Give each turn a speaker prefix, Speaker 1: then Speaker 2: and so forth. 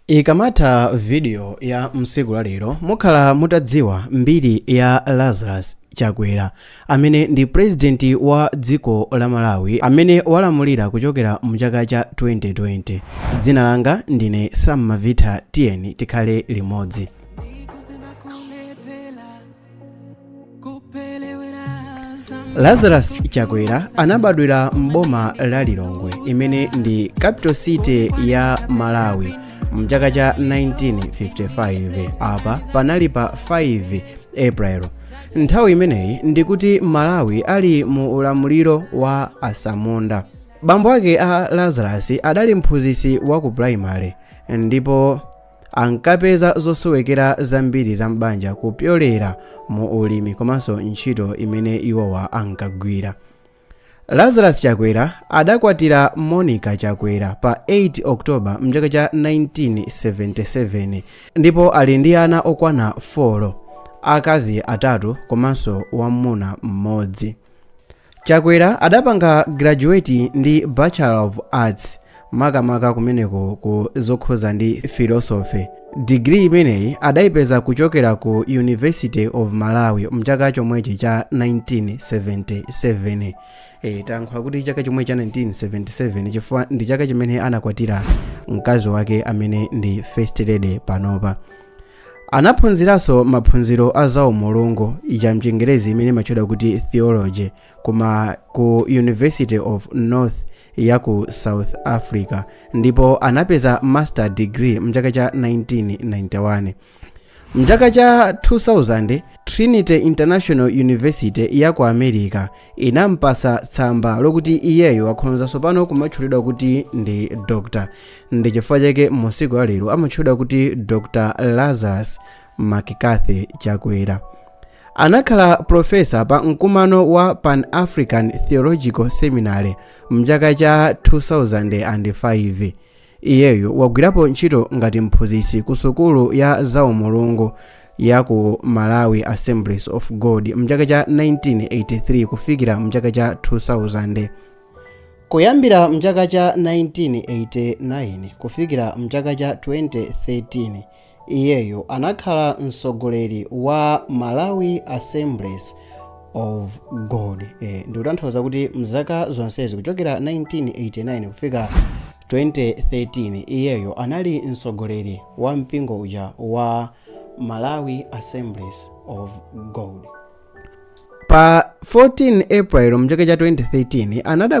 Speaker 1: Ikamatha video ya msiku la lero mukhala mutadziwa mbiri ya Lazarus Chakwera amene ndi president wa dziko la Malawi amene walamulira kuchokera mu chaka cha 2020. Dzina langa ndine Sam Mavitha, tiyeni tikhale limodzi. lazarus chakwera anabadwira m'boma la lilongwe imene ndi capital city ya malawi mchaka cha 1955 apa panali pa 5 april nthawi imeneyi ndikuti malawi ali mu ulamuliro wa asamunda bambo ake a lazarus adali mphunzitsi wa ku primary ndipo ankapeza zosowekera zambiri za m'banja kupyolera mu ulimi komanso ntchito imene iwowa ankagwira lazarus chakwera adakwatira monica chakwera pa 8 october mchaka cha 1977 ndipo ali ndi ana okwana 4 akazi atatu komanso wamuna mmodzi chakwera adapanga graduate ndi bachelor of arts makamaka kumeneko ku zokhuza ndi philosophy degree imeneyi adaipeza kuchokera ku university of malawi mchaka chomwechi cha 1977 e, tankhula kuti chaka chomwechi cha 1977 chifukwa ndi chaka chimene anakwatira mkazi wake amene ndi first lady panopa Anaphunziranso maphunziro a zaumulungu, ija m'Chingerezi imene imatchedwa kuti theology, koma ku University of North ya ku South Africa ndipo anapeza master degree mchaka cha 1991. Mchaka cha 2000, Trinity International University ya ku America inampasa tsamba lokuti iyeyo akhonza tsopano kumatchulidwa kuti ndi doctor ndi chifukwa chake msiku la lero amatchulidwa kuti dr lazarus mccarthy chakwera anakhala profesa pa mkumano wa pan african theological seminary mchaka cha 2005 Iyeyo wagwirapo ntchito ngati mphunzitsi ku sukulu ya zaumulungu ya ku Malawi Assemblies of God mchaka cha 1983 kufikira mchaka cha 2000. Kuyambira mchaka cha 1989 kufikira mchaka cha 2013 Iyeyo anakhala mtsogoleri wa Malawi Assemblies of God e, ndikutanthauza kuti mzaka zonsezi kuchokera 1989 kufika 2013 iyeyo anali mtsogoleri wa mpingo uja wa Malawi Assemblies of God pa 14 April mchaka cha 2013 anadabwi